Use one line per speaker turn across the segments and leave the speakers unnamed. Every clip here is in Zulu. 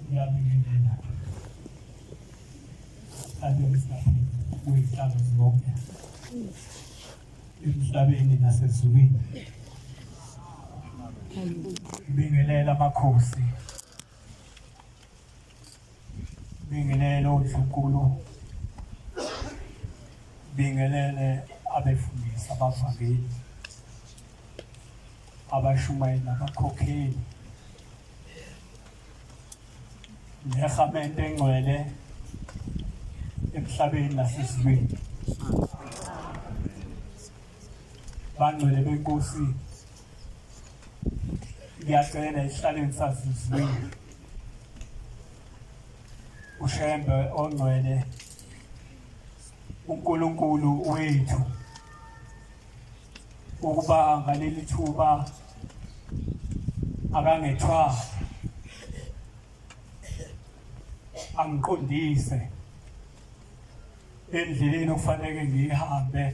ngiyabingelela abezihlalo kuyihlalo zonke emhlabeni nasezulwini ngibingelela amakhosi Bingelele uNdlunkulu, bingelele abefundisi abavangeli abashumayeli nabakhokheli nehamente engcwele emhlabeni nasezulwini bangcwele benkosi ngiyacela isihlaleni sasizwile ushembe ongcwele uNkulunkulu wethu ukuba ngaleli thuba akangethwa angiqondise endleleni okufanele ngihambe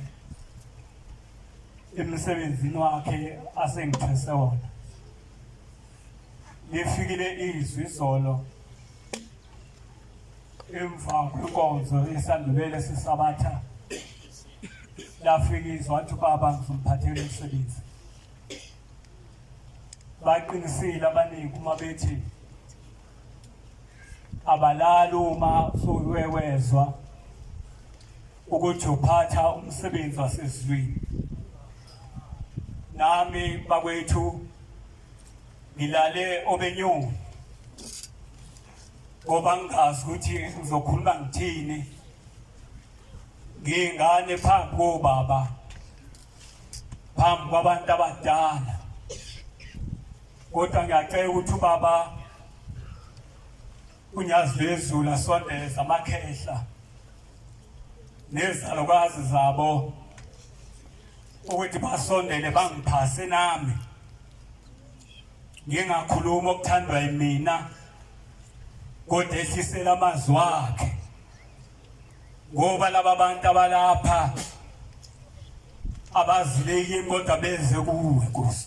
emsebenzini wakhe asengithwese wona lifikile izwi izolo emva kwenkonzo esandulele sisabatha lafika izwi wathi ubaba ngizomphathela umsebenzi baqinisile abaningi uma bethi abalali uma sowewezwa ukuthi uphatha umsebenzi wasezulwini nami bakwethu ngilale obenyoni ngoba ngingazi ukuthi ngizokhuluma ngithini ngiyingane phambi kobaba phambi kwabantu abadala kodwa ngiyacela ukuthi ubaba UNyazizulu asondeza amakhehla nezalukwazi zabo ukuthi basondele bangiphase nami ngingakhuluma okuthandwa yimina kodwa ehlisela amazwi wakhe ngoba laba bantu abalapha abazileki kodwa beze kuwe Nkosi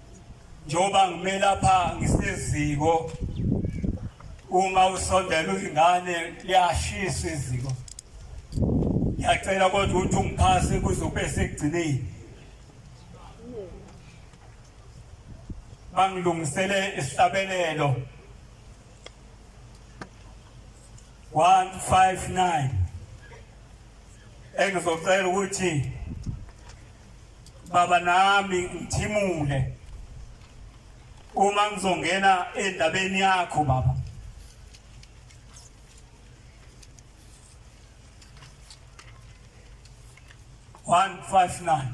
njengoba ngime lapha ngiseziko uma usondela uyingane liyashisa iziko ngiyacela kodwa ukuthi ungiphase kuze ube sekugcineni bangilungisele isihlabelelo 159 engizocela ukuthi baba nami ngithimule uma ngizongena endabeni yakho baba one five nine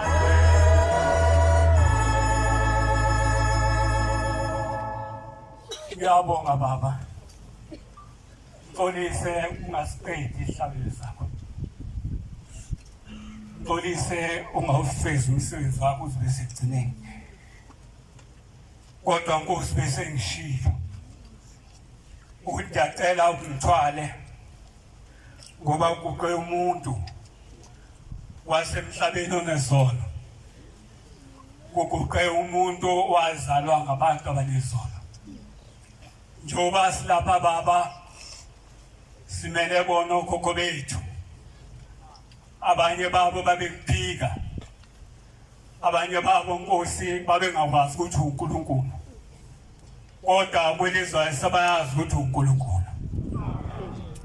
Ngiyabonga baba. Ngixolise ungasiqedi ihlabelo sakho. Ngixolise ungawufezi umsebenzi wakho uzibe segcineni. Kodwa Nkosi bese ngishilo. Ukuthi ngiyacela ungithwale ngoba uguqe umuntu wasemhlabeni onezono kuguqe umuntu owazalwa ngabantu abanezono njengoba silapha baba simele bona okhokho bethu abanye babo babekuphika abanye babo nkosi babengakwazi ukuthi uNkulunkulu kodwa kwelizwayo sabayazi ukuthi uNkulunkulu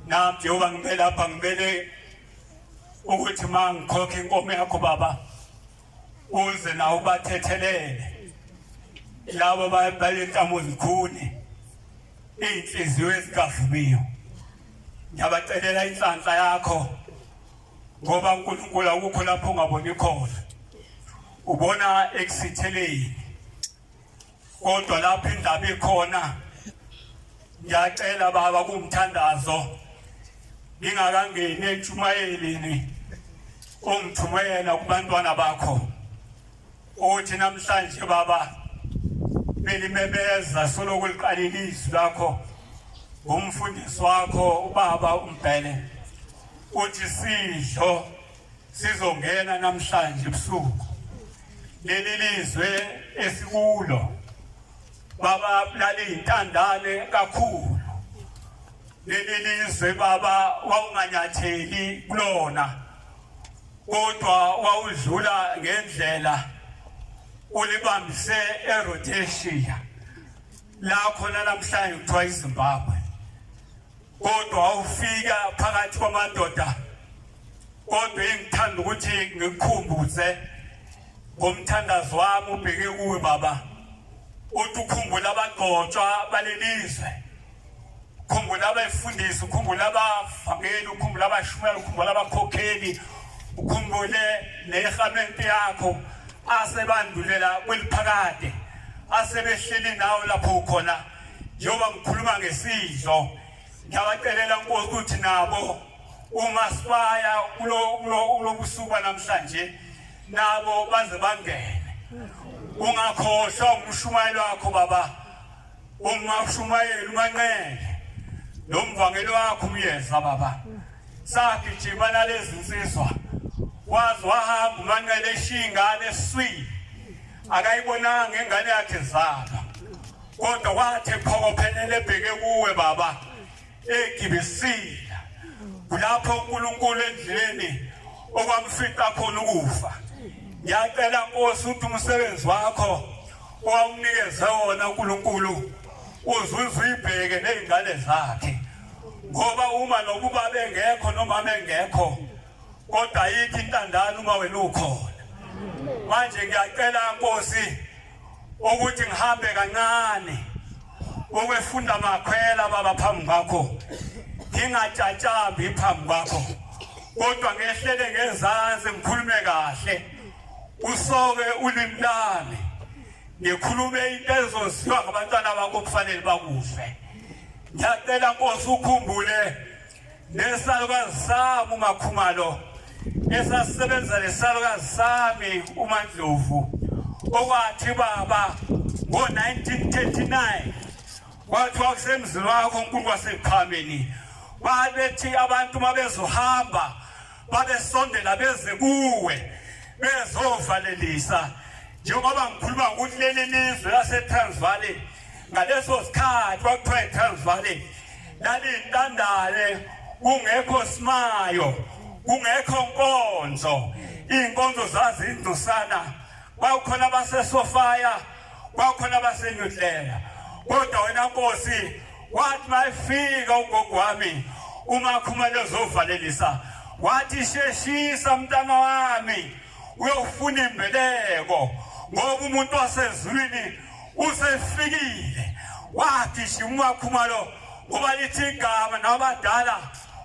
nami Jehova ngibe lapha ngibele ukuthi ma ngikhokhe inkomo yakho baba uze nawe ubathethelele labo balenhlamo zikhuni iy'nhliziyo ezikavumiyo ngiyabacelela inhlanhla yakho ngoba unkulunkulu akukho lapho ungaboni khona ubona ekusitheleni kodwa lapho indaba ikhona ngiyacela baba kumthandazo ngingakangeni entshumayelini ongithumela kubantwana bakho uthi namhlanje baba belimebeza soloko liqalile izwi lakho ngumfundisi wakho ubaba umbhele uthi sidlo Sizongena namhlanje ebusuku leli lizwe esikulo baba laliyintandane kakhulu leli lizwe baba wawunganyatheli kulona kodwa wawudlula ngendlela ulibambise eRhodesia la khona namhlanje kuthiwa iZimbabwe kodwa wawufika phakathi kwamadoda kodwa engithanda ukuthi ngikukhumbuze ngomthandazo wami ubheke kuwe baba uthi ukhumbula abagcotshwa balelizwe ukhumbula abefundisi ukhumbula abavangeli ukhumbula abashumela ukhumbula abakhokheli ukhumbule nehamente yakho asebandulela kweliphakade asebehleli nawo lapho ukhona njengoba ngikhuluma ngesidlo ngiyabacelela nkosi ukuthi nabo uma sibaya kulobusuku banamhlanje nabo baze bangene ungakhohlwa umshumayelo wakho baba uma ushumayela umanqele nomvangeli wakho umyeza baba sagijima nalezi nsizwa waze wahamba umanqele eshiyingane eswini akayibonanga ingane yakhe zalo kodwa wathi phokophelele ebheke kuwe baba egibisile kulapho uNkulunkulu endleleni okwamfica khona ukufa ngiyacela nkosi ukuthi umsebenzi wakho owawunikeze wona uNkulunkulu uzuze uyibheke nezingane zakhe ngoba uma nokuba bengekho noma bengekho kodwa yithi intandane uma wena ukhona manje ngiyacela nkosi ukuthi ngihambe kancane ukwefunda amakhwela baba phambi kwakho ngingatshatshambi phambi kwakho kodwa ngehlele ngezansi ngikhulume kahle usoke ulimi lami ngikhulume into ezosiwa ngabantwana bakho kufanele bakufe ngiyacela nkosi ukhumbule nesalukazi sami umakhumalo esasebenza nesalukazi sami umandlovu okwathi baba ngo-1939 kwathiwa kusemzini wakho unkulu waseqhameni babethi abantu uma bezohamba babesondela beze kuwe bezovalelisa njengoba ngikhuluma ukuthi leli lizwe lasetransvaal ngaleso sikhathi kwakuthiwa itransvaal lalintandane kungekho simayo kungekho nkonzo iy'nkonzo zazindusana kwakukhona abasesofaya kwakukhona abasenyudlela kodwa wena nkosi wathi mayifika ugogo wami uma khumele zovalelisa wathi sheshisa mntana wami uyofuna imbeleko ngoba umuntu wasezulwini usefikile wagijima umakhumalo ngoba lithi igama nabadala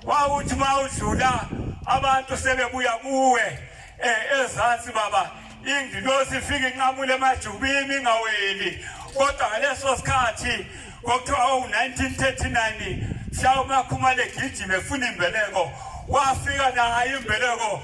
wawuthi uma udlula abantu sebebuya kuwe um ezansi baba ingilosi ifike inqamule emajubini ingaweli kodwa ngaleso sikhathi kwakuthiwa owu-1939 mhlawumbe akhumale gijime efuna imbeleko wafika nayo imbeleko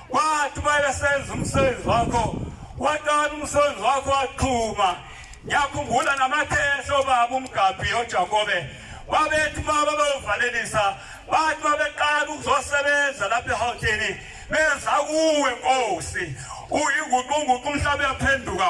Wathi uma esenza umsebenzi wakho watana umsebenzi wakho waqhuma ngiyakhumbula namakhehla obaba umgabhi ojakobe babethi uma babayovalelisa bathi uma beqala ukuzosebenza lapha ehawutini benza kuwe nkosi uyinguqunguqu umhlaba uyaphenduka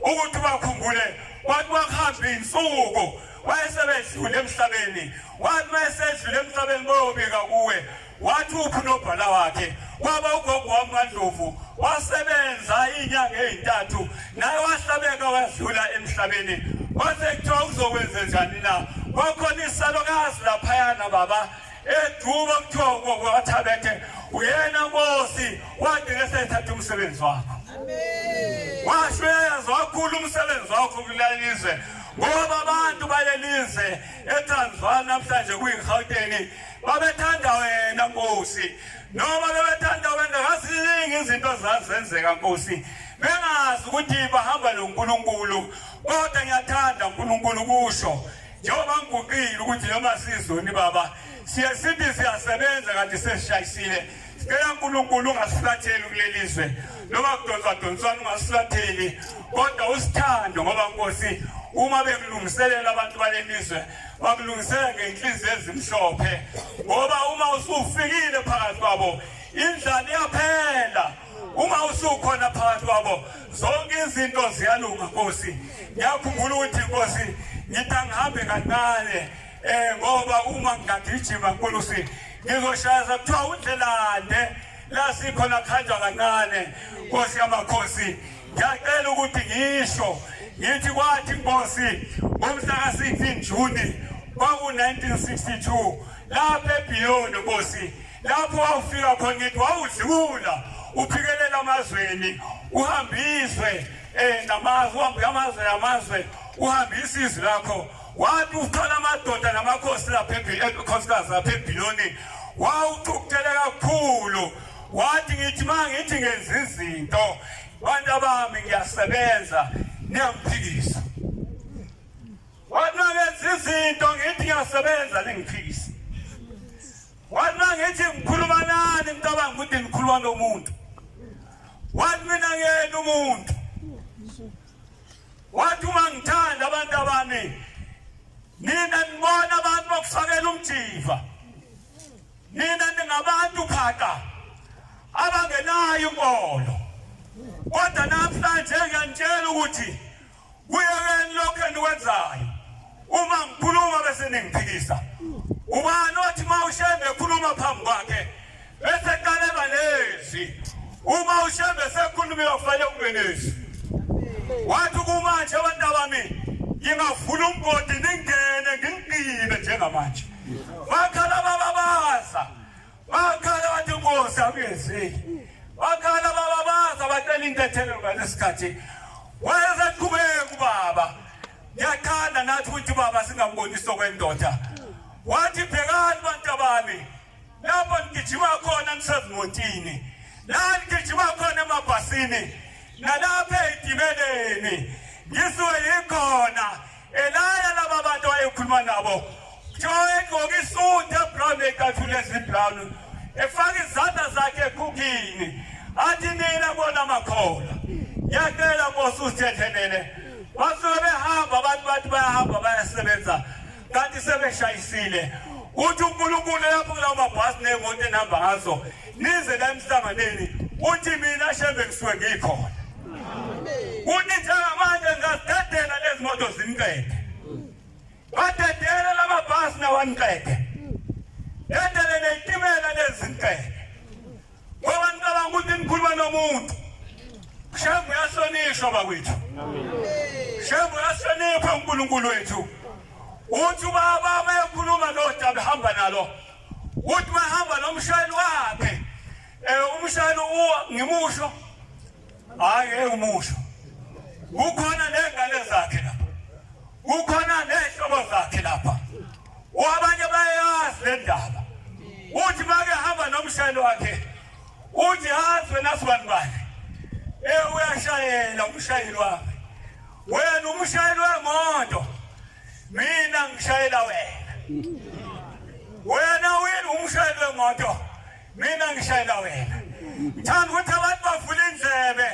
ukuthi bakhumbule kwathi kwakuhamba iy'nsuku wayesebedlule emhlabeni wathi mayesedlule emhlabeni boyobika kuwe wathi uphi nobhala wakhe kwaba ugogo wami kandlovu wasebenza iy'nyanga ey'ntathu naye wahlabeka wadlula emhlabeni kwase kuthiwa uzokwenze njani na kwakhona isalokazi laphayana baba Eduka kuthiwa kwathabethe uyena nkosi wade ngesethatha umsebenzi wakho. Washo uyayazi wakhulu umsebenzi wakho kulalizwe ngoba abantu balelize eTransvaal namhlanje kuyiGauteng babethanda wena nkosi noma bebethanda wena kaziningi izinto zazenzeka nkosi bengazi ukuthi bahamba noNkulunkulu kodwa ngiyathanda uNkulunkulu kusho Njengoba ngiguqile ukuthi noma sizoni baba siye sithi siyasebenza kanti sesishayisile sicela uNkulunkulu ungasiflatheli kuleli zwe noma kudonswa donswana ungasiflatheli kodwa usithando ngoba Nkosi uma bekulungiselela abantu balelizwe bakulungisela ngenhliziyo ezimhlophe ngoba uma usufikile phakathi kwabo indlala iyaphela uma usukhona phakathi kwabo zonke izinto ziyalunga nkosi ngiyakhumbula ukuthi nkosi ngithi angihambe kancane um ngoba uma ngingagijima nkulusi ngizoshayaza kuthiwa undlelande la sikhona kuhanjwa kancane nkosi yamakhosi ngiyacela ukuthi ngisho ngithi kwathi nkosi ngomhlaka 16 juni kwaku-1962 lapha ebhiyoni nkosi lapho wawufika khona ngithi wawudlula uphikelela amazweni uhambiswe um eh, namazwe uhambe amazwe namazwe uhambisa izwi lakho wathi uthola amadoda namakhosi lapha ekhosikazi lapha ebhiloni wawuxukuthele kakhulu wathi ngithi ma ngithi ngenza izinto bantu abami ngiyasebenza niyangiphikisa wathi mangenza izinto ngithi ngiyasebenza ningiphikisa Wathi mina ngithi ngikhuluma nani ngicabanga ukuthi ngikhuluma nomuntu. Wathi mina ngiyena umuntu. Wathi uma ngithanda abantu abami nina nibona abantu bokufakela umjiva. Nina ningabantu phaka abangenayo inkolo. Kodwa namhlanje ngiyanitshela ukuthi kuyekeni lokhu enikwenzayo uma ngikhuluma bese ningiphikisa ubani othi uma ushembe ekhuluma phambi kwakhe bese qaleba nezwi uma ushembe sekhuluma uyofanele kube nezwi wathi kumanje abantu abami ngingavula umgodi ningene ngingigqibe njengamanje bakhala bababaza Wakhala wathi Nkosi akuyenzeki. Wakhala baba baza bacela intethelo ngalesikhathi. Wayeseqhubeka ubaba. Ngiyathanda nathi ukuthi baba singambonisa okwendoda. Wathi bhekani bantu abami. Lapho ngigijima khona ngisezimotini. La ngigijima khona emabhasini. Nalapha etimeleni. Ngisuke yikhona. Elaya laba bantu ayekhuluma nabo kuthiwa egqoke isuti ebrown ekathule ezibrown efaka izandla zakhe ekhukhini athi nina bona makhola ngiyacela nkosi usithethelele basuke behamba abantu bathi bayahamba bayasebenza kanti sebeshayisile uthi unkulunkulu lapho kulawo mabhasi ney'moto enihamba ngazo nize la emhlanganweni uthi mina shembe ngisuke ngikhona uthi njengamanje ngingazidedela lezi moto zimqede badedele lamabhasi nawaniqede dedele neyitimela lezi nqede ngoba nicabanga ukuthi nikhuluma nomuntu shembe uyahlonishwa bakwethu shembe uyahlonipha unkulunkulu wethu uthi ubaba uma ekhuluma nodaba ehamba nalo Uthi mahamba nomshayeli wakhe. Eh umshayeli ngimusho. Hayi engimusho. Kukhona nengane zakhe lapha. Kukhona nezihlobo zakhe lapha. Wabanye bayazi le ndaba. Uthi make hamba nomshayeli wakhe. Uthi hazwe nasibani bakhe. Eh uyashayela umshayeli wakhe. Wena umshayeli wemoto. mina ngishayela wena wena wini umshayeli wemoto mina ngishayela wena ngithanda ukuthi abantu bavule indlebe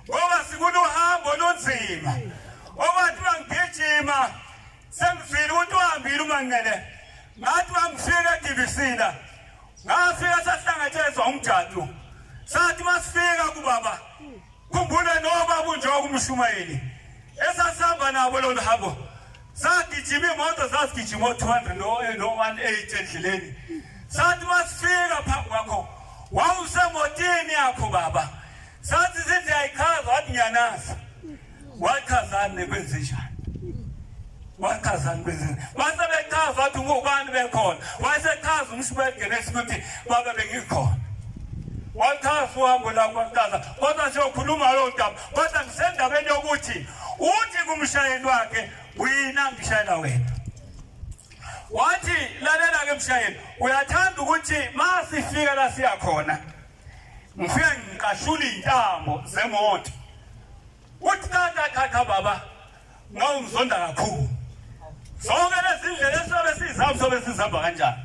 ngoba sikulo hambo olunzima obathi bangigijima sengifile ukuthi uhambile umanqele ngathi bangifika edivisina ngafika sahlangatshezwa umjadu sathi masifika kubaba Khumbula noma kunjoko umshumayeli esasihamba nabo lolu hambo sagijima imoto zasigijima o-200 no-180 endleleni sathi masifika phambi kwakho wawusemotini yakho baba sathi sithi ayichaza wathi ngiyanazi wachazani kwenzenjani wachazani kwenzenjani wase bechaza wathi ngubani bekhona wayesechaza umshubegenesi ukuthi baba bengikhona wachaza uhambo lakwachaza kodwa siyokhuluma loo ndaba kodwa ngisendabeni yokuthi uthi kumshayeli wakhe wina ngishayela wena wathi lalela-ke mshayeli uyathanda ukuthi ma sifika la siyakhona ngifike ngiqashula iy'ntambo zemoto Uthi cha cha cha cha baba ngawungizonda kakhulu. Zonke lezi ndlela esizobe sizihamba sobe sizihamba kanjani?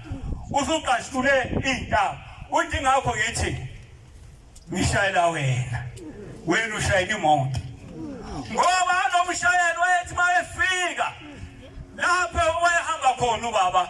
Usuqashule intaba. Uthi ngakho ngithi ngishayela wena. Wena ushayela imoto. Ngoba nomshayeli wayethi mayefika lapho wayehamba khona ubaba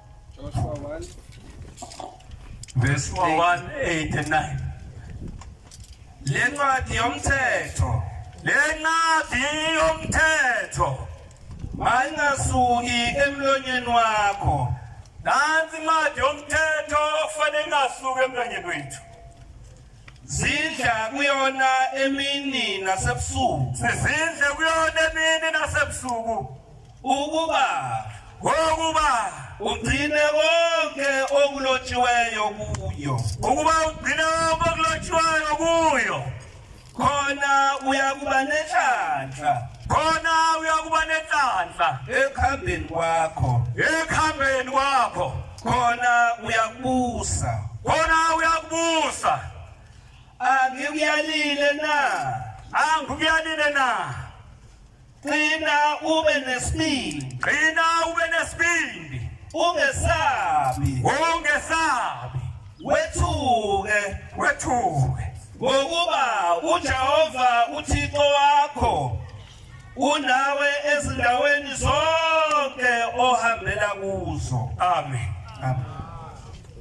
Joshua 1 verse 1 8 and 9 lencwadi
yomthetho lencwadi
yomthetho mayingasuki
emlonyeni wakho nansi
incwadi yomthetho okufanele ingasuki emlonyeni wethu zidla
kuyona emini nasebusuku sizidle
kuyona emini nasebusuku Ukuba
ukuba ugcine konke okulotshiweyo
kuyo ukuba ugcine konke okulotshiweyo
kuyo khona uyakuba nenhlanhla khona
uyakuba nenhlanhla ekuhambeni
kwakho ekuhambeni
kwakho khona
uyakubusa khona
uyakubusa angikuyalile
na angikuyalile
na Qina
ube nesibindi. Qina ube
nesibindi. Ungesabi.
Ungesabi. Wethuke. Wethuke. Ngokuba uJehova uThixo wakho unawe ezindaweni zonke ohambela kuzo. Amen.
Amen.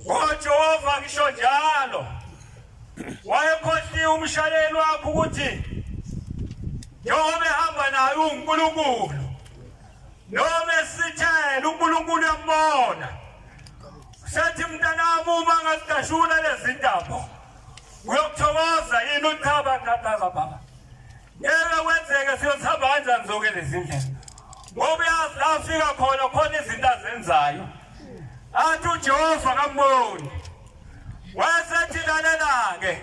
O
Jehova ngisho njalo Wayekhohliwe umshayeli wakhe ukuthi njengoba ehamba naye uNkulunkulu noma esithela uNkulunkulu yambona sethi mntanami uma ngazigashula lezindaba uyokuthokoza yini uthaba thathaza baba Ngeke kwenzeke siyothamba kanjani zonke lezi ndlela ngoba uyazi la afika khona khona izinto azenzayo athi ujehova kamboni wayesethi lalela-ke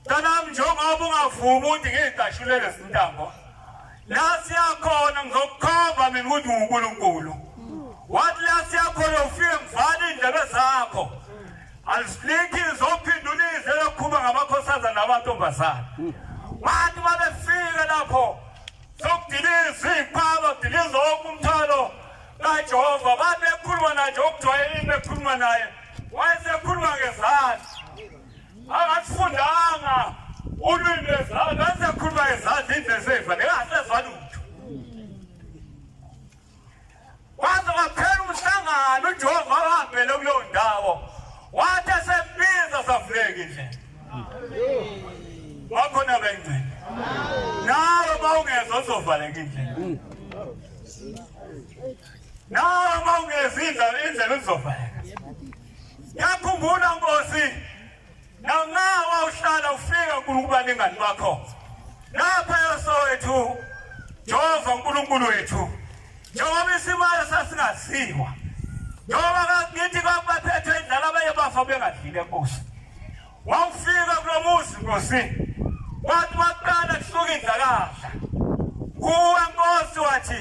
mntanami njengoba ungavumi ukuthi ngiyidashulele zintambo la siyakhona ngizokukhomba mina ukuthi ngunkulunkulu wathi la siyakhona ufike ngivale iy'ndlebe zakho Azihliki zophindulise lokhuluma ngamakhosazana nabantombazana. Wathi babefika lapho sokudiliza iqaba kudiliza wonke umthwalo kaJehova babekhuluma naye nje okujwayelile bekhuluma naye wayesekhuluma ngezandla akasifundanga ulwimi lwezandla wayesekhuluma ngezandla indlela eseyiva nengasezwa lutho Waze waphela umhlangano uJehova wahambele kuleyo ndawo. Wathi esembiza savuleka indlela. Wakhona bengcini. Nawe mawungeza uzovaleka indlela. Nawe mawungeza indlela indlela uzovaleka. Yakhumbula Nkosi nangawa uhlala ufika uNkulunkulu anengani bakho lapha yosowethu Jehova uNkulunkulu wethu njengoba isimalo sasingaziwa njengoba kakithi kwabaphethwe indlala abanye bafa bengadlile enkosi wawufika kulo muzi nkosi wathi waqala kusuka indlakadla kuwe nkosi wathi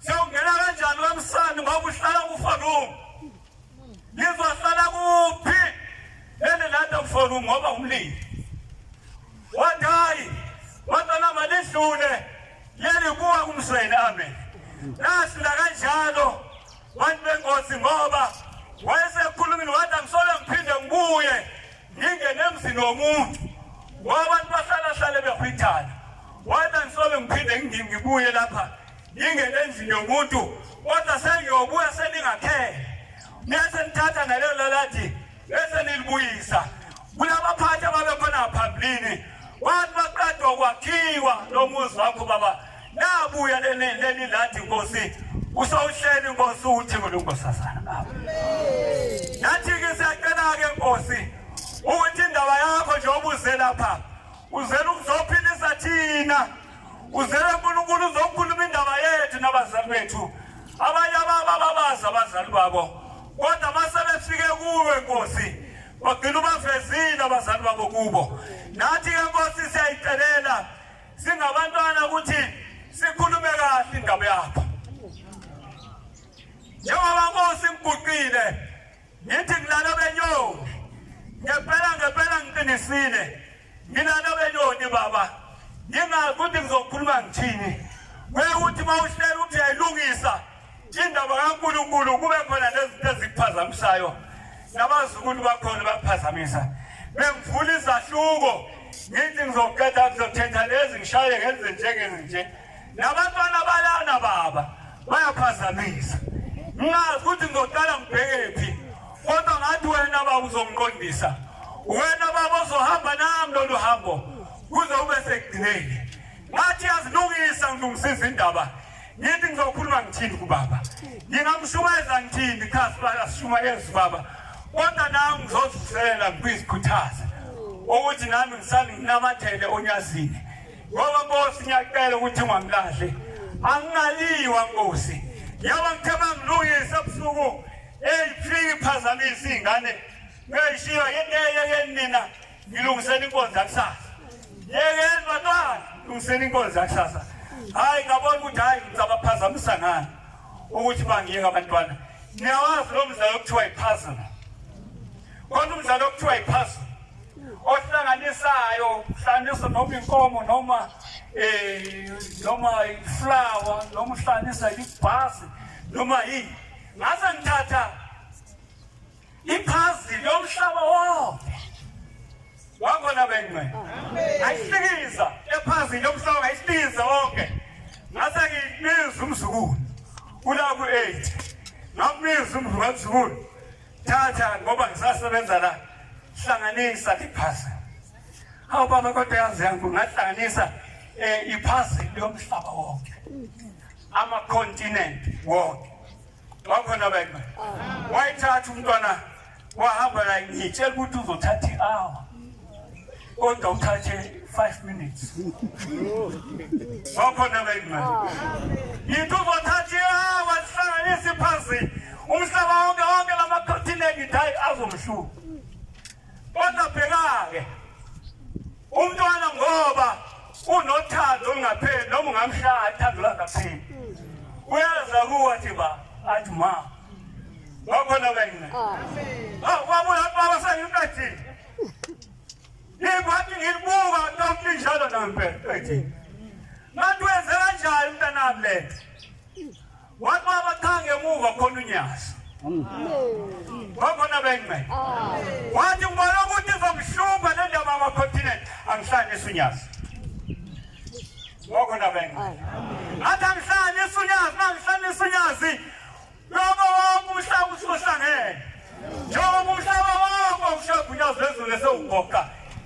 Siyawungena kanjani kamsani ngoba uhlala kuforum. Nizohlala kuphi? Ene landa kuforum ngoba umlilo. Wadayi, wantwana malidlule. Yeli kuwa kumsweni amen. Nasila kanjalo bantu bengosi ngoba wayesekhulumile wathi angisole ngiphinde ngibuye ngingene emzini womuntu ngoba abantu bahlala hlale behwithana wathi angisole ngiphinde ngibuye lapha Ngingene endlini yomuntu kodwa sengiyobuya seningakhele. Nese nithatha nalo lalathi bese nilibuyisa. Kulabaphathi ababekhona phambilini wathi baqeda ukwakhiwa lo muzi wakho baba nabuya leni leni lathi nkosi usawuhleli nkosi uthi kulungosazana baba. Nathi ke siyacela ke nkosi ukuthi indaba yakho nje obuzela pha uzela ukuzophilisa thina Uzele uNkulunkulu uzokhuluma indaba yethu nabazali bethu. Abanye ababa babazi abazali babo. Kodwa mase befike kuwe Nkosi, bagcina ubavezile abazali babo kubo. Nathi ke Nkosi siyayicelela singabantwana ukuthi sikhulume kahle indaba yakho. Njengoba Nkosi ngiguqile Ngithi ngilala benyoni. Ngempela ngempela ngiqinisile. Ngilala benyoni baba. Ngingazi ukuthi ngizokhuluma ngithini. Kuyukuthi mawuhlela ukuthi yayilungisa indaba kaNkulunkulu kube khona lezinto ezikuphazamisayo. Nabazukulu bakhona bakuphazamisa. Bengivula izahluko. Ngithi ngizoqeda ngizothetha lezi ngishaye ngenze njengenje. Nabantwana balana baba bayaphazamisa. Ngazi ukuthi ngizoqala ngibhekephi kodwa ngathi wena baba uzongiqondisa. Wena baba ozohamba nami lolu hambo kuze ube sekugcineni. Ngathi yazilungisa ngilungisiza indaba. Ngithi ngizokhuluma ngithini kubaba. Ngingamshumayeza ngithini cha sibala sishumayeza baba. Kodwa nami ngizozisela ngikuyizikhuthaza ukuthi nami ngisale nginamathele onyazini. Ngoba Nkosi ngiyacela ukuthi ungamlahle. Angingaliwa Nkosi. Yaba ngithe mangilungise ebusuku eyifiki phazamisa izingane. Ngiyishiya yenteye yenina ngilungisela inkonzo yakusasa. Yeke ndodana lungisela inkonzo yakusasa. Hayi ngabona ukuthi hayi ngizabaphazamisa ngani ukuthi bangiyeka abantwana. Niyawazi lo mdlalo okuthiwa iphazama. Khona umdlalo okuthiwa yiphasa ohlanganisayo hlanganisa noma inkomo noma eh noma iflower noma uhlanganisa ibhasi noma yini ngase ngithatha iphazi lomhlaba wonke wakhona bengcwe ayihlikiza ephazi lomhlaba ayihlikiza wonke ngase ngibiza umzukulu kula ku-8 ngakubiza umzukulu Thatha ngoba ngisasebenza la. Hlanganisa iphasi. Hawu baba kodwa yazi yangu ngahlanganisa eh iphasi lomhlaba wonke. Ama continent wonke. Wakhona baba. Wayithatha umntwana wahamba la ngitshela ukuthi uzothatha i-hour. kodwa uthathe 5 minutes wakhona la imali yithu uzothatha ihawa sihlanganise phansi umhlaba wonke wonke lamakhothineki hayi azomhluka kodwa bheka-ke umntwana ngoba unothando olungapheli noma ungamshaya athando langapheli uyaza kuwa thi ba athi ma wakhona kayina ah. ah, wabuya baba sengimqathile Ngikwathi ngibuka ntombi njalo nambe ethi ngathi wenze kanjani mntanami le nto wathi baba cha ngemuva khona unyazi wakhona bengcele wathi ngibona ukuthi izomhlupha le ndaba amacontinent angihlanisi unyazi wakhona bengcele ngathi angihlanisi unyazi mangihlanisa unyazi Noma wamuhla ukuthi uhlangene. Njengoba umhlaba wakho ushagunyazwe ezulu esewugoqa.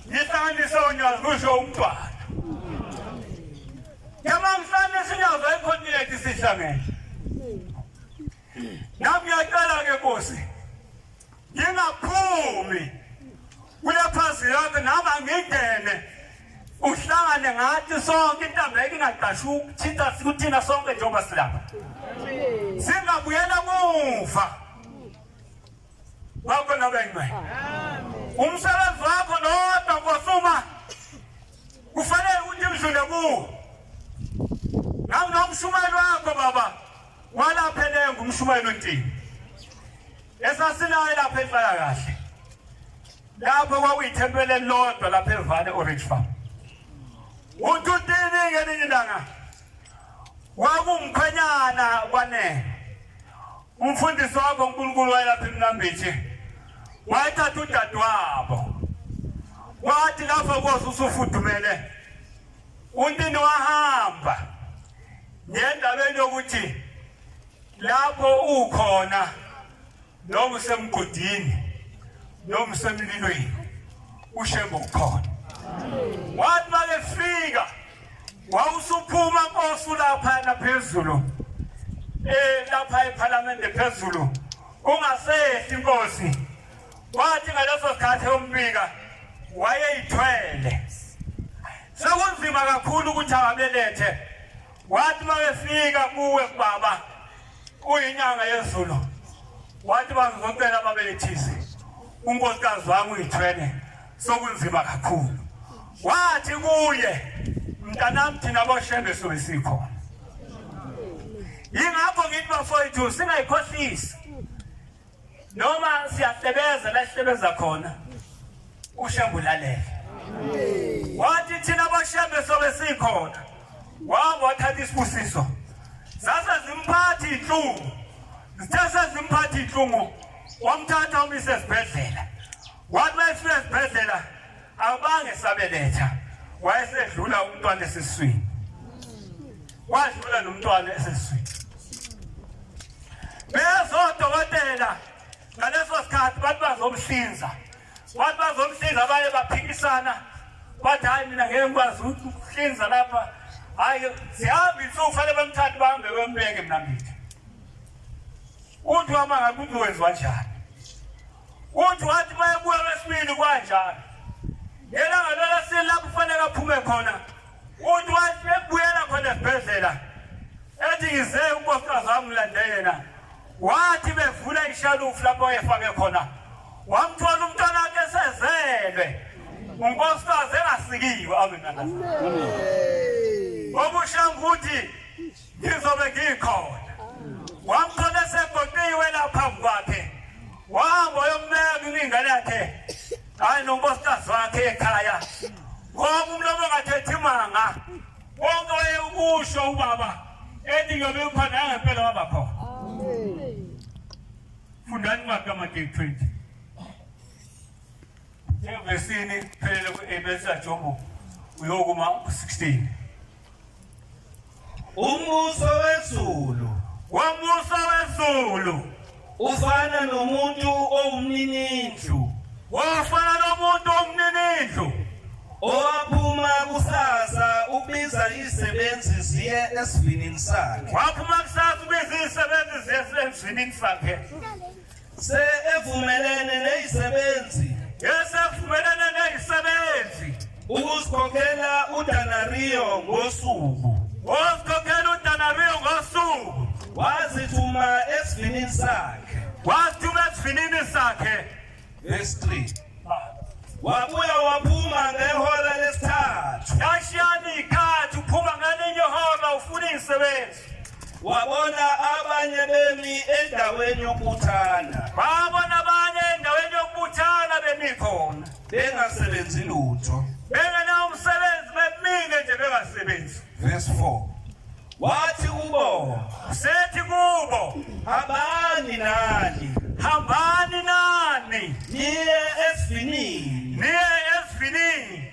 Ngihlanganise onyazi kusho umntwana. Ngamamhlanje sinyazo ekhontinenti sihlangene. Nami ngiyacela-ke Nkosi. Ngingaphumi kule phansi yonke nama ngingene uhlangane ngathi sonke intambeke ingaqasha ukuthinta kuthina sonke njengoba silapha singabuyela muva bakho nabengcwe umsebenzi wakho nodwa nkosuma kufanele ukuthi mdlule kuwo nanginomshumayeli wakho baba Kwalapha elenga umshumayeli uNtini esasinaye lapha ehlala kahle lapho kwakuyithempeli elilodwa lapha evane orange farm uthi untini ngelinye ilanga wakumkhwenyana kwanele umfundisi wabo unkulunkulu wayelapha emnambithi wayethatha udadewabo wathi lapho koze usufudumele Untini wahamba ngendabeni yokuthi lapho ukhona noma usemgodini noma usemlilweni ushembe ukhona wathi makefika wawusuphuma nkosi laphana phezulu eh lapha ephalamende phezulu ungasehli inkosi Kwathi ngaleso sikhathi umbika wayeyithwele. Sekunzima kakhulu ukuthi ababelethe. Wathi mabefika kuwe kubaba uyinyanga yezulu. Wathi bazocela babelethise. Unkosikazi wami uyithwele. Sokunzima kakhulu. Wathi kuye mntanami thina boshembe soyisikho. Yingakho ngithi bafowethu singayikhohlisi. noma siyahlebeza la sihlebeza khona ushembe ulalele wathi thina bashembe sobe sikhona wabo wathatha isibusiso sase zimphathi inhlungu sithe sezimphathi inhlungu wamthatha umisa esibhedlela wathi uma esifika esibhedlela Abange sabeletha wayesedlula umntwana esiswini. Wadlula nomntwana esiswini. Bezodokotela ngaleso sikhathi bathi bazomhlinza. Bathi bazomhlinza baye baphikisana. Bathi hayi mina ngeke ngikwazi ukuhlinza lapha. Hayi sihambe insuku fanele bamthathe bahambe bembeke mina ngithi. Uthi wama ngakuthi wenziwa njani? Uthi wathi uma ebuya lwesibili kwanjalo. Ngelanga lolwesibili lapho kufanele aphume khona. Uthi wathi ebuyela khona esibhedlela. Ethi ngize unkosikazi wami ngilande yena. Wathi bevula ishalufu lapho ayefake khona. Wamthola umntwana wakhe esezelwe. Unkosikazi engasikiwe amen. Amen. Obushanguthi ngizobe ngikhona wamthola esegoqiwe la phambi kwakhe wahamba yombeka ingane yakhe hayi nonkosikazi wakhe ekhaya ngoba umlomo ongathethi imanga konke wayekusho ubaba ethi ngiyobe ngikhona yangempela waba khona fundani kwakhe amateki 20 njengovesini phelele ku-abesa jobo uyokuma ku-16
Umbuso wezulu. Umbuso wezulu. Ufana nomuntu owumninindlu. Wafana
nomuntu owumninindlu. Owaphuma
kusasa ubiza izisebenzi ziye esivinini sakhe. Waphuma kusasa
ubiza izisebenzi ziye esivinini sakhe. Se evumelene
nezisebenzi. Esevumelene
nezisebenzi. Ukuzikhokhela
uDanario ngosuku. Wazikhokhela uDanario ngosuku. Wazithuma esivinini sakhe. Wazithuma esivinini sakhe. Verse 3. Wabuya waphuma ngehora lesithathu. Yashiyana
ikhathi uphuma ngelinye ihora ufuna izisebenzi. wabona
abanye bemi endaweni yokubuthana babona abanye
endaweni yokubuthana bemi khona bengasebenzi
lutho bengenawo
umsebenzi bemile nje bengasebenzi verse 4
wathi kubo usethi
kubo hambani
nani hambani nani niye esivinini niye esivinini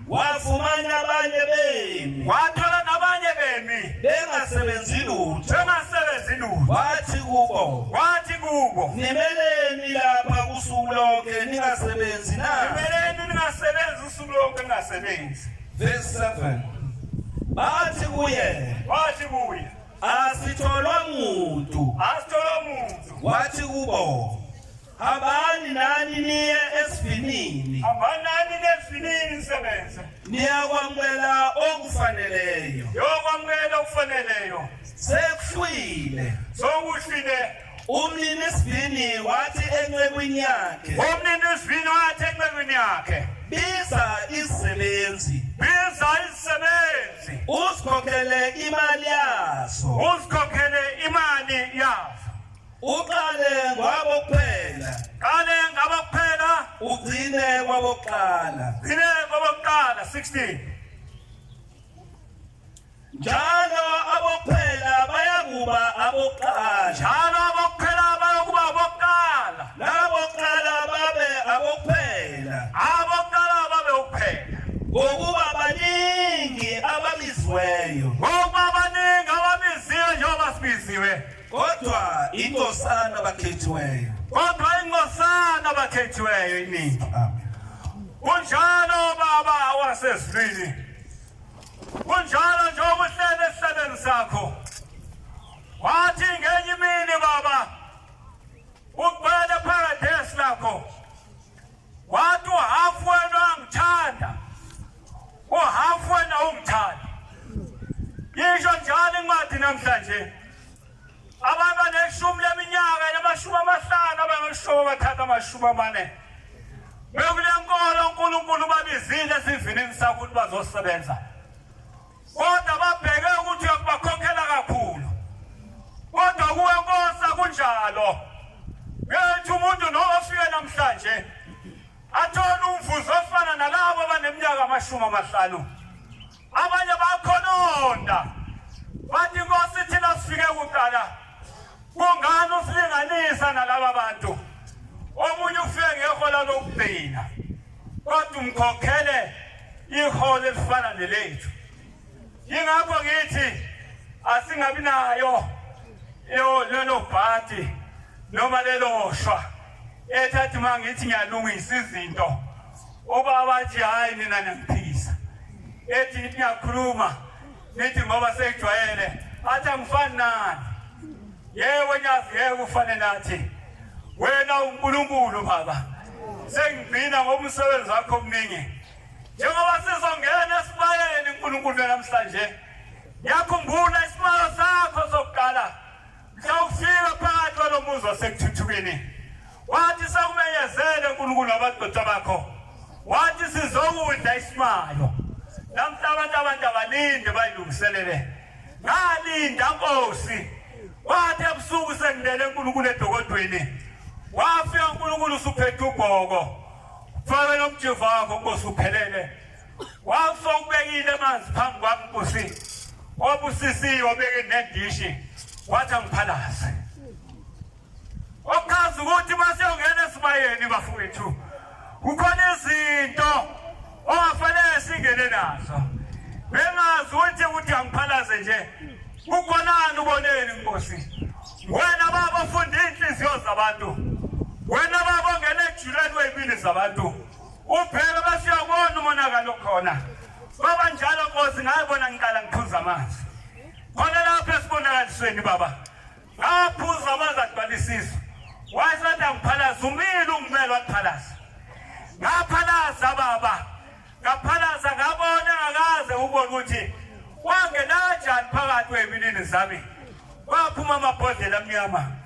wafumana abanye bemi wathola nabanye
bemi bengasebenzi
lutho bengasebenzi lutho wathi kubo wathi kubo nimeleni lapha usuku lonke ningasebenzi na nimeleni ningasebenzi usuku lonke ningasebenzi verse 7 bathi kuye bathi kuye asitholwa muntu asitholwa muntu wathi kubo Hambani nani niye esivinini. Hambani nani nesivinini nisebenze. Niyakwamukela okufaneleyo. Yokwamukela okufaneleyo. Sekuhlwile. Sokuhlwile. Umnini isivini wathi encekwini yakhe. Umnini isivini wathi encekwini yakhe. Biza izisebenzi. Biza izisebenzi. Uzikhokhele imali yaso. Uzikhokhele imali yaso. Uqale kwabokuphela. Qale ngabokuphela. Ugcine kwabokuqala. Gcine kwabokuqala
16.
Njalo abokuphela bayakuba abokuqala. Njalo abokuphela bayokuba abokuqala. Nabokuqala babe abokuphela. Abokuqala babe ukuphela. Ngokuba baningi ababizweyo. Ngokuba baningi ababizweyo njengoba sibiziwe. Kodwa inkosana bakhethiweyo. Kodwa inkosana bakhethiweyo iningi.
Kunjalo baba wasezulwini. Kunjalo nje okuhlele esihlelweni sakho. Wathi ngenye imini baba uqwele paradise lakho. Wathi uhafu wena uyangithanda, uhafu wena ungithanda. Yisho njalo incwadi namhlanje. Abantu baneshumi leminyaka namashumi amahlanu abangeshoba bathatha amashumi amane. Bekule nkolo uNkulunkulu babizile esivinini sakho ukuthi bazosebenza. kodwa babheke ukuthi uyakubakhokhela kakhulu kodwa kuwe nkosi akunjalo ngethi umuntu nowafike namhlanje athole umvuzo ofana nalabo abaneminyaka amashumi amahlanu abanye bakhononda bathi nkosi thina sifike kuqala kungani usilinganisa nalaba bantu omunye ufike ngehola lokugcina kodwa umkhokhele iholo elifana nelethu yingakho ngithi asingabi nayo lelo bhadi noma lelo shwa ethathi uma ngithi ngiyalungisa izinto ubaba athi hhayi nina niyangiphikisa ethi ngithi ngiyakhuluma Nithi ngoba seyijwayele athi angifani nani. Yebo nyazi yebo ufane nathi. Wena uNkulunkulu baba. Sengigcina ngomsebenzi wakho omningi. Njengoba sizongena esibayeni uNkulunkulu namhlanje. Yakhumbula isimalo sakho sokuqala. Sawufika phakathi kwalo muzi wasekuthuthukeni wathi sakumenyezele uNkulunkulu wabadoda bakho wathi sizokudla isimayo namhla abantu abantu abalinde bayilungiselele ngalinda nkosi wathi ebusuku sengilele uNkulunkulu edokodweni wafika uNkulunkulu usuphethe ubhoko fake nomjivakho nkosi uphelele Wafa ubekile amanzi phambi kwami nkosi. Obusisiwe obeke nendishi wathi angiphalaze. Okazi ukuthi mase ungena esibayeni bafowethu. Kukhona izinto ongafanele singene nazo. Bengazi ukuthi ukuthi angiphalaze nje. Kukhonani uboneni nkosi. Wena baba funda inhliziyo zabantu. Wena baba ongena ejuleni weyibili zabantu. Ubheka basiyabona umonakalo khona. Baba njalo Nkosi ngaye bona ngiqala ngiphuza amanzi. Khona lapha esibonakalisweni baba. Ngaphuza amanzi agcwalisisa. Wayesathi angiphalaza umile ungimele waphalaza. Ngaphalaza baba. Ngaphalaza ngabona ngakaze ubone ukuthi wangenajani phakathi weminini zami. Waphuma amabhodlela amnyama.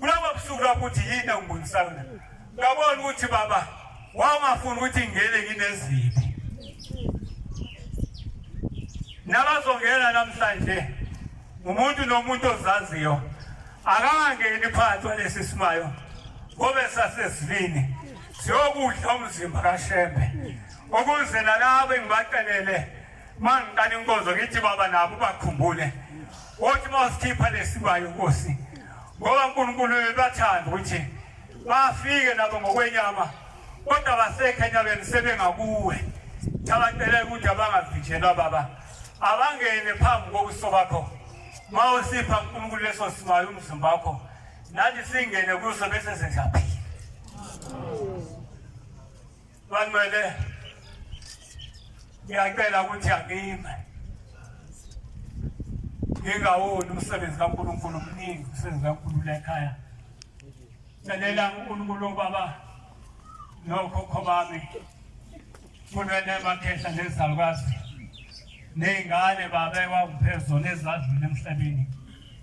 kulaba busuku lapho uthi yini engibonisayo na ngabona ukuthi baba wawungafuni ukuthi ngingene ngineziphi nabazongena namhlanje umuntu nomuntu ozaziyo akangangeni phansi walesi simayo ngobe sasesivini siyokudla umzimba kashembe ukuze nalabo engibacelele Uma ngiqala inkonzo ngithi baba nabo bakhumbule wothi uma usikhipha lesibayo nkosi ngoba uNkulunkulu uyathanda ukuthi bafike nabo ngokwenyama kodwa basekhe enyabeni sebengakuwe thabacele ukuthi abangavinjelwa baba abangene phambi kobuso bakho ma usipha uNkulunkulu leso simayo umzimba wakho nathi singene kuso bese sengaphila Banwele ngiyacela ukuthi angime ngingawoni umsebenzi kaNkulunkulu omningi umsebenzi kaNkulunkulu lekhaya celela uNkulunkulu obaba nokhokho bami kunwele makhehla nezalukwazi ney'ngane baba ekwakuphezu nezadlule emhlabeni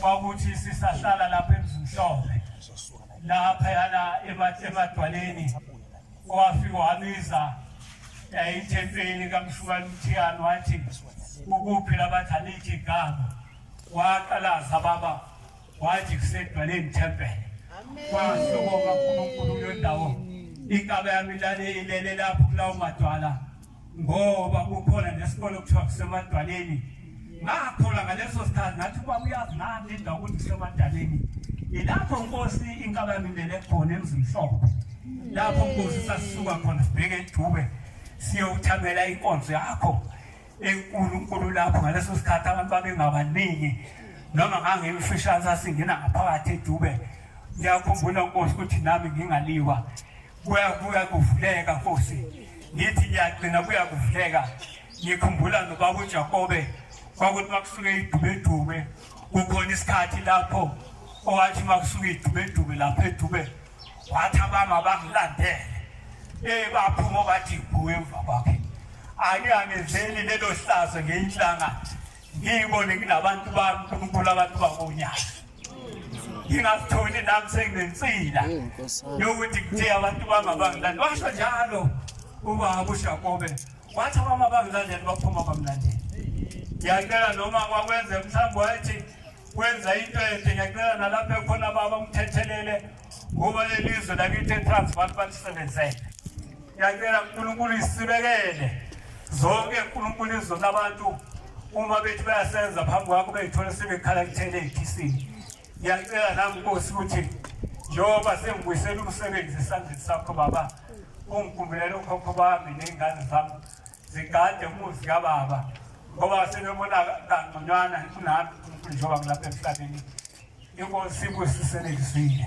kwakuthi sisahlala lapha emzimhlophe lapha yana emadwaleni kwafika wabiza yayithempeli eh, kamshukani umthiyane wathi ukuphi labathi alithi igama waqalaza baba wathi kusedwaleni thempele kwasukoma unkulunkulu kulo ndawo ikaba yami lale ilele lapho kulawo madwala ngoba kukhona nesikole okuthiwa kusemadwaleni ngakhula ngaleso sikhathi ngathi uba uyazi nami indawo ukuthi kusemadaleni ilapho nkosi inkaba yami ilele khona emzimhlophe lapho nkosi sasisuka khona sibheke edube siyowuthamela inkonzo yakho enkulu nkulu lapho ngaleso sikhathi abantu babengabaningi noma ngangimfishane sasingena ngaphakathi edube ngiyakhumbula nkosi ukuthi nami ngingaliwa Kuyabuya kuvuleka Nkosi, ngithi ngiyagcina kuya kuvuleka. Ngikhumbula nobaba uJakobe kwakuthi makusuke idubedume kukhona isikhathi lapho owathi makusuke idubedume lapho edube wathi abama bakulandele eh baphuma bathi kuwe emva kwakhe ake angezeli lelo hlazo ngeyinhlanga ngiyibone kunabantu bami uNkulunkulu abantu bakonyaka ngingazitholi nami senginensila yokuthi kuthiye abantu bami abangilandi washo njalo ubaba ushakobe wathi abama bangilandeli baphuma bamlandeli ngiyacela noma kwakwenze mhlawumbe wayethi kwenza into ede ngiyacela nalapho ekhona baba umthethelele ngoba lelizwe lakithi eTransvaal balisebenzele yacela uNkulunkulu isibekele zonke uNkulunkulu izwe labantu uma bethi bayasenza phambi kwakho beyithola sebekhala kuthele ekhisiwe ngiyacela nami nkosi ukuthi njengoba sengibuyisela umsebenzi esandleni sakho baba ungigumbulele ukhokho bami ney'ngane zami Sigade umuzi kababa ngoba senobona kangconywana kunami njengoba ngilapha emhlabeni inkosi ibusiselekisile